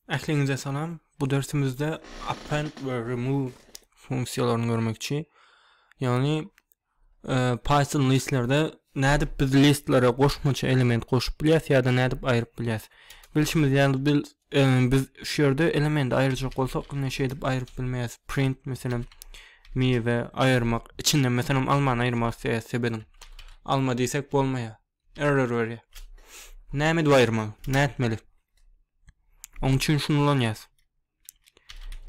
Ähliňize salam. Bu dersimizde append we remove funksiýalaryny görmekçi. Ýagny e, Python listlerde nädip biz listlere goşmaça element goşup bilýäs ýa-da nädip aýryp bilýäs. Bilşimiz ýaly biz e, biz şu ýerde elementi aýyrjak bolsak, indi şeýdip aýryp bilmeýäs. Print meselem miwe aýyrmak, içinde meselem almany aýyrmak isleýäs sebediň. Alma diýsek bolmaýar. Error berýär. Näme edip aýyrmaly? Nätmeli? Oň üçin şuny ulanýas.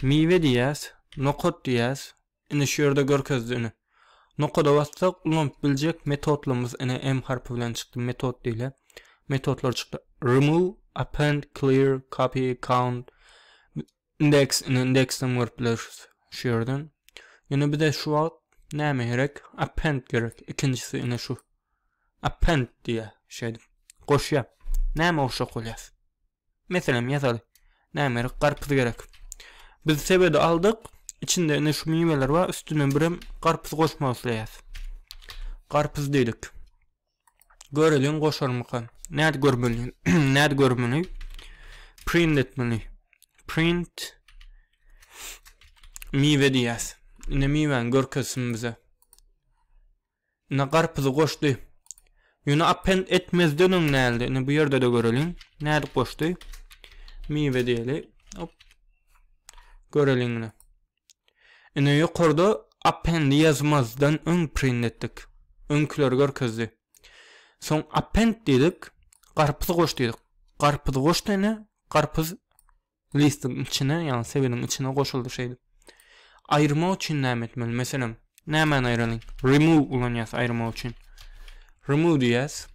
Miwe diýýäs, nokat diýýäs. Indi şu ýerde görkezdi ine. Nokada bassak ulanyp biljek metodlarymyz ine M harpy bilen çykdy metod diýle. Metodlar çykdy. Remove, append, clear, copy, count. Indeks indi indeksden görüp bileris şu ýerden. Ýöne bize şu wagt näme gerek? Append gerek. Ikinjisi indi şu. Append diýýär şeýdip. Goşýar. Näme goşjak bolýas? Meselem ýazaly. Näme gerek? Garpyz gerek. Biz sebedi aldyk. İçinde indi şu miweler bar. Üstüne birem garpyz goşmak isleýäs. Garpyz diýdik. Göreliň goşarmyka. Näde görmeli? Näde görmeli? Print etmeli. Print miwe diýýäs. Ine miwäni görkezsin bize. Ine garpyzy goşdy. Ýöne append etmezden öň nädi? Ine bu ýerde-de göreliň. Näde goşdy? Miwe diýeli. Hop. Göreliň ine. Ine ýokarda appendi ýazmazdan öň print etdik. Öňküleri görkezdi. Soň append diýdik, garpyz goş diýdik. Garpyz goşdy ine, garpyz listiň içine, ýagny sebeniň içine goşuldy şeýdip. Aýyrmak üçin näme etmeli? Meselem, nämäni aýralyň? Remove ulanýas aýyrmak üçin. Remove diýýäs.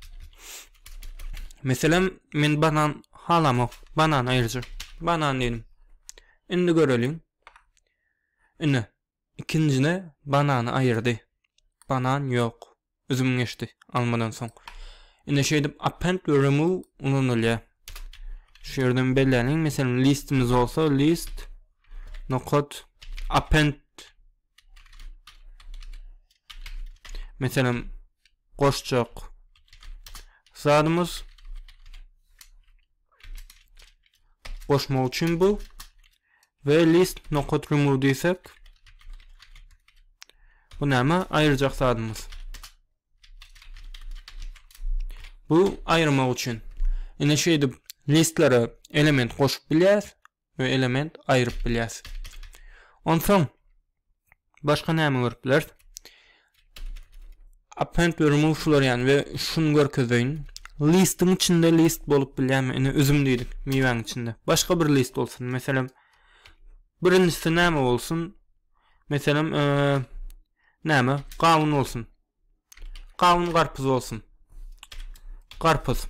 Meselem, men banan halamok. Banan aýyrjak. Banan diýdim. Indi göreliň. Ine, ikinjine banany aýyrdy. Banan ýok. Üzüm geçdi, almadan soň. Ine şeýdip append we remove ulanylýar. Şu ýerden belläliň, meselem, listimiz bolsa, list, nokat, append Meselem, goşjak zadymyz goşmak üçin bu we list nokat remove diýsek bu näme aýyrjak zadymyz bu aýyrmak üçin ine şeýdip listlere element goşup bilýäs we element aýryp bilýäs. Onsoň başga näme görüp bileris? Append we remove şular ýaly we şuny görkezeýin. Listiň içinde list bolup bilýärmi? Ine üzüm diýdik miwäň içinde. Başga bir list bolsun. Meselem birinjisi näme bolsun? Meselem, e, näme? Gawun bolsun. Gawun garpyz bolsun. Garpyz.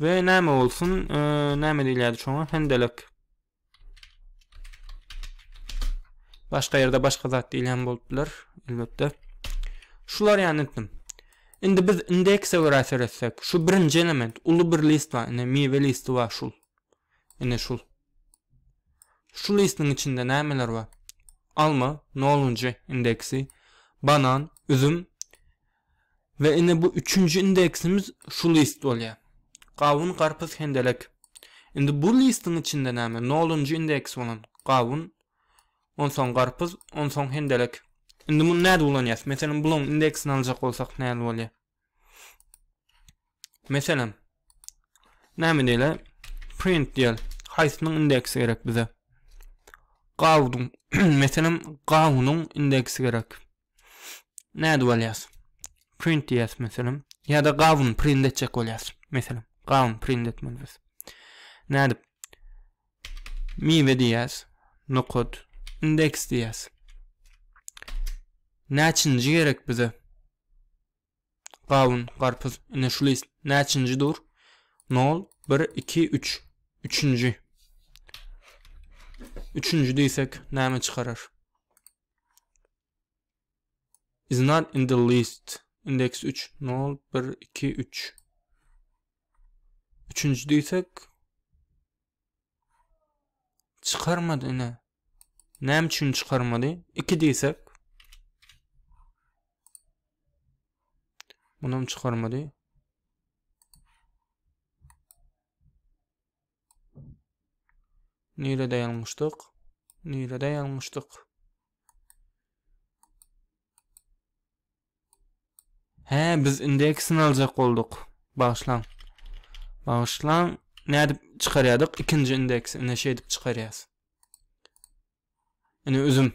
Ve näme bolsun? Ee, näme diýilýärdi şoňa? Hendelek. Başga ýerde başga zat diýilýän bolup biler, elbetde. Şular ýany etdim. Indi biz indekse görä seretsek, şu birinji element, uly bir list bar, indi miwe listi bar şul. Indi şul. Şu listiniň içinde nämeler bar? Alma, nolunjy indeksi, banan, üzüm we ine bu üçünji indeksimiz şu list bolýar. Gawun, garpyz, hendelek. Indi bu listiniň içinde näme? Nolunjy indeks bolan gawun, onsoň garpyz, onsoň hendelek. Indi muny nädip ulanýas? Meselem, bulaň indeksini aljak bolsak näme bolýar? Meselem, näme diýeli? Print diýeli. Haýsynyň indeksi gerek bize? Gawudyň, meselem, gawunyň indeksi gerek. Nädip alýas? Print diýäs meselem. Ýa-da gawun print etjek bolýas. Meselem, gawun print etmeli biz. Nädip? Miwe diýäs. Nokat indeks diýäs. Näçinji gerek bize? Gawun, garpyz, ine şu list näçinji dur? Nol, bir, iki, üç. Üçünji. Üçünji diýsek näme çykarar? Is not in the list. Indeks 3. Nol, bir, iki, üç. Üçünji diýsek Çykarmady ine. Näme üçin çykarmady? 2 diýsek. Munam çykarmady. Nirede ýalňyşdyk? Nirede ýalňyşdyk? Hä biz indi ikisini aljak bolduk. Bagyşlaň. Bagyşlaň. Nädip çykarýadyk? Ikinji indeksi ine şeýdip çykarýas. Ine üzüm.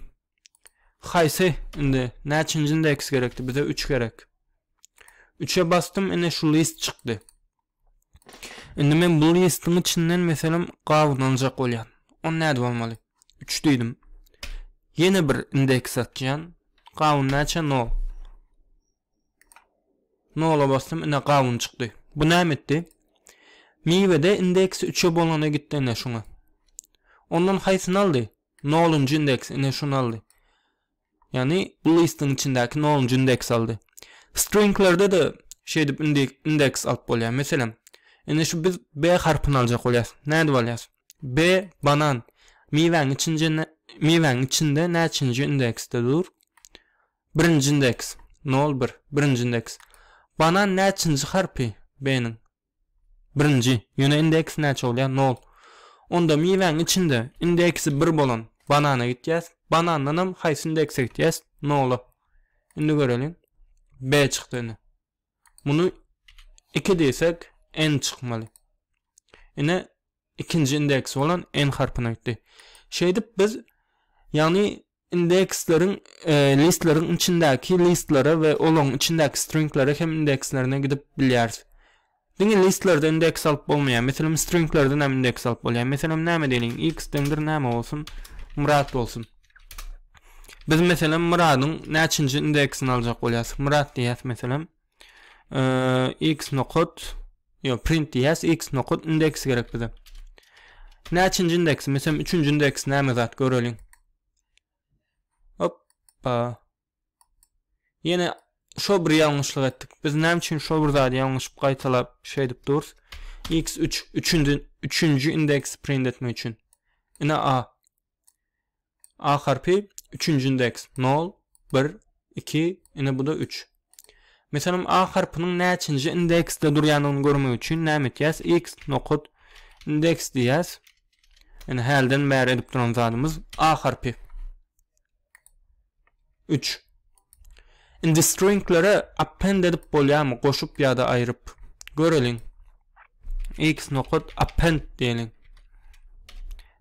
Haýsy indi näçinji indeks gerekdi? Bize 3 gerek. 3-e bastym, ine şu list çykdy. Indi men bu listiň içinden meselem gabyny aljak bolýan. On näde bolmaly? 3 diýdim. Ýene bir indeks atýan. Gabyn näçe? 0. 0-a basdym, ine gabyn çykdy. Bu näme etdi? Miwede indeks 3-e bolana gitdi ine şuňa. Ondan haýsyny aldy? 0-njy indeks ine şuny aldy. Ýagny bu listiň içindäki nolunjy indeks aldy. Stringlerde-de şeýdip indeks alyp bolýar. Meselem, indi şu biz B harpyny aljak bolýarys. Nädip alýarys? B banan miwäň içinde miwäň içinde näçinji indeksde dur? Birinji indeks 0 1 birinji indeks. Banan näçinji harpy B-niň? Birinji, ýöne indeks näçe bolýar? Nol. Onda miwäň içinde indeksi bir bolan banana gitýäs. Banandanam haýsy indekse gitýäs? Nola. Indi göreliň. B çykdy ine. Muny 2 diýsek, N çykmaly. Ine ikinji indeks bolan N harpyna gitdi. Şeýdip biz ýagny Indeksleriň listleriň içindäki listlere we olaryň içindäki stringlere hem indekslerine gidip bilýäris. Diňe listlerde indeks alyp bolmaýar. Meselem, stringlerden hem indeks alyp bolýar. Meselem, näme diýeliň? X deňdir näme bolsun? Myrat bolsun. Biz meselem Myradyň näçinji indeksini aljak bolýas? Myrat diýýäs meselem. Ee, x nokat yo print diýäs x nokat indeks gerek bize. Näçinji indeks? Meselem 3-nji indeks näme zat göreliň. Hoppa. Ýene şo bir ýalňyşlyk etdik. Biz näme üçin şo bir zady ýalňyşyp gaýtalap şey edip durus? x3 3-nji 3-nji indeks print etmek üçin. Ine a. A harpy üçünji indeks 0, 1, 2, ine bu-da 3. Meselem, A harpynyň näçinji indeksde durýandygyny görmek üçin näme etýäs? X nokat indeks diýýäs. Ine hälden bäri edip duran zadymyz A harpy. Üç. Indi stringlere append edip bolýarmy? Goşup ýa-da aýryp. Göreliň. X nokat append diýeliň.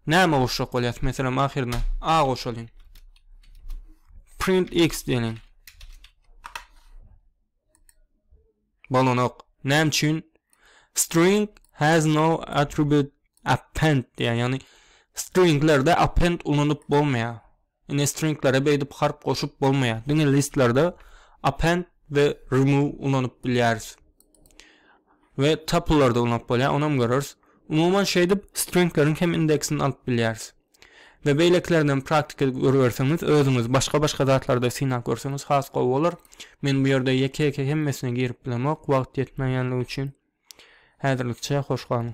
Näme goşjak bolýas? Meselem, ahyryna A goşalyň. Print X diýeliň. Bolanok. Näme üçin? String has no attribute append diýýär. Ýagny stringlerde append ulanyp bolmaýar. Ine stringlere beýdip harp goşup bolmaýar. Diňe listlerde append we remove ulanyp bilýäris. We tuple'larda ulanyp bolýar, onam göreris. Umuman şeýdip stringleriň hem indeksini alyp bilýäris. we beýlekilerindenem praktik edip görüberseňiz özüňiz başga başga zatlarda synap görseňiz has gowy bolar men bu ýerde ýeke ýeke hemmesine girip bilemok wagt ýetmeýänligi üçin häzirlikçe hoş galyň.